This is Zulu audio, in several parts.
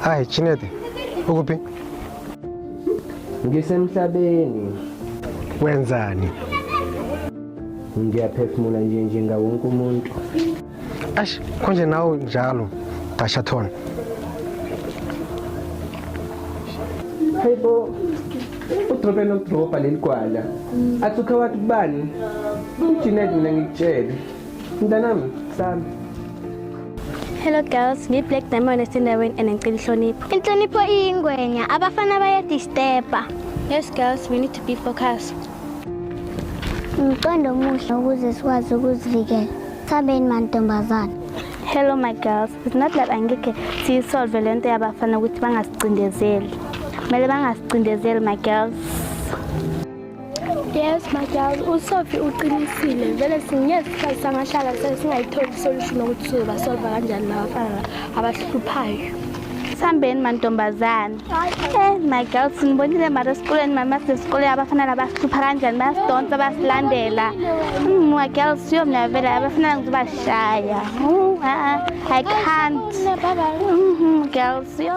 Hayi Chinete, ukuphi? Ngisemhlabeni. Wenzani? Ngiyaphefumula nje njenga wonke umuntu. Ash, konje nawe njalo, Dashathon. Hayibo. Udrobe nokudroba leli gwala. Athi ukhe wathi kubani? UJinet mina ngikutshele. Mntanami, sami. Hello girls, ngi Black Diamond esendaweni and ngicela inhlonipho. Inhlonipho iyingwenya, abafana baya disturba. Yes girls, we need to be focused. Umqondo omuhle ukuze sikwazi ukuzivikela. Sabeni mantombazana. Hello my girls, it's not that angeke siyisolve le nto yabafana ukuthi bangasicindezeli. Kumele bangasicindezeli my girls. Yes, my girl, uSophie uqinisile. Vele singeke sihlale sangahlala sesingayitholi isolution ukuthi sizoba solve kanjani labafana abahluphayo. Sambeni mantombazane. Eh, my girl, sinibonile mara esikoleni mama sesikole abafana labahlupha kanjani bayasidonsa basilandela. Mm, my girl, siyo mina vele abafana ngizobashaya. Mm, uh, I can't. Mm, girl, siyo.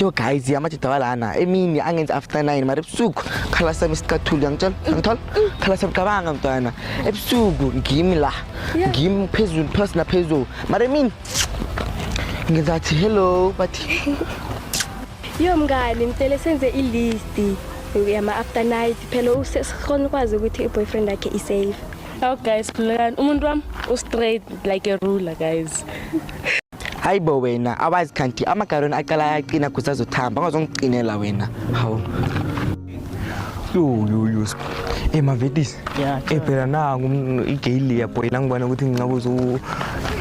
yo guys amajidawala ana emini angenzi after nine mara ebusuku khala sami isicathuli angitshela angithola khala sami cabanga mntwana ebusuku ngimi la ngimi phezulu phasi naphezulu mara emini ngenza athi hello bathi Yo mngani ngicela senze ilist yama after night phela usekhona ukwazi ukuthi iboyfriend yakhe i safe. Oh guys khulekani umuntu wami u straight like a ruler guys. Hayibo wena awazi kanti amagaroni aqala ayaqina kusazothamba angazongiqinela wena. Hawu. yuyuyus e mavetis e phela nangu igeyili yabhoyi la ngibona ukuthi ngincabuza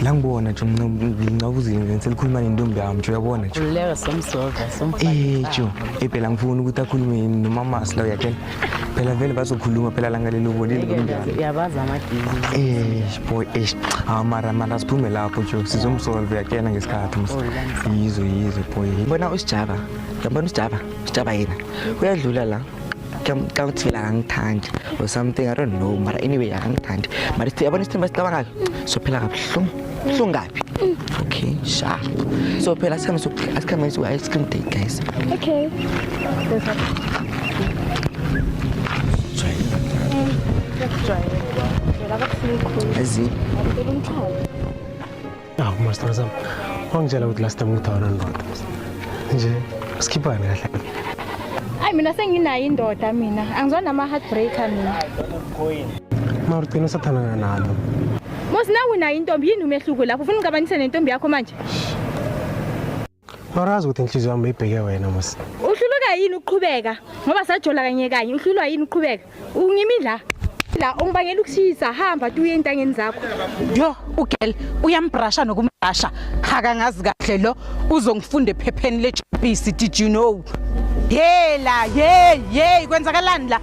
la ngibona nje ngincabuzile nje selikhuluma nentombi yami nje uyabona nje eh jo e phela ngifuna ukuthi akhulume nomamasi la uyathela phela vele bazokhuluma phela la ngalelo ubonile uyabazi amadizi eh boy eh amara ah, mara siphume lapho jo sizomsolve yakena ngesikhathi oh, yizo yizo boy bona usijaba yabona usijaba Sitshaba yena uyadlula la xa uthivela akangithandi or something i don't know mara anyway akangithandi mara sithi yabona isithemba sicabangayo sophela kabuhlungu buhlungu kabi okay sha so phela sikhambe sikhambe ice cream date guys okay As in. awu masithando sami wangitshela ukuthi last time ukuthi awunandoda nje sikhiphane kahle ayi mina senginayo indoda mina angizwa nama-heartbreaker mina mara ugcina usathandana nalo mos nawe unayo intombi yini umehluko lapho ufuna ungicabanise nentombi yakho manje Marazi ukuthi inhliziyo yami ibheke wena mos. Uhluluka yini ukuqhubeka? Ngoba sajola kanye kanye uhlulwa yini ukuqhubeka? Ungimi la. La ungibangela ukushisa hamba tuye entangeni zakho. Yo ugel uyambrasha nokumbrasha. Haka ngazi kahle lo uzongifunda ephepheni le GBC did you know? Yela hey hey kwenzakalani la?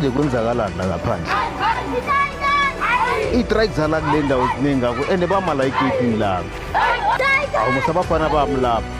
manje kwenzakalani la ngaphandle ii-trike zala kule ndawo ziningi kakhulu and bamala igeyidini lami awu musabafana bami lapho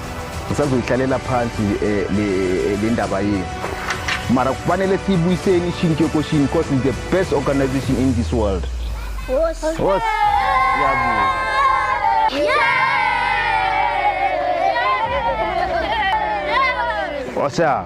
ngisazoyihlalela phansi eh, eh, le ndaba yenu mara kufanele siyibuyiseni ishintshe koshini because it's the best organization in this world osa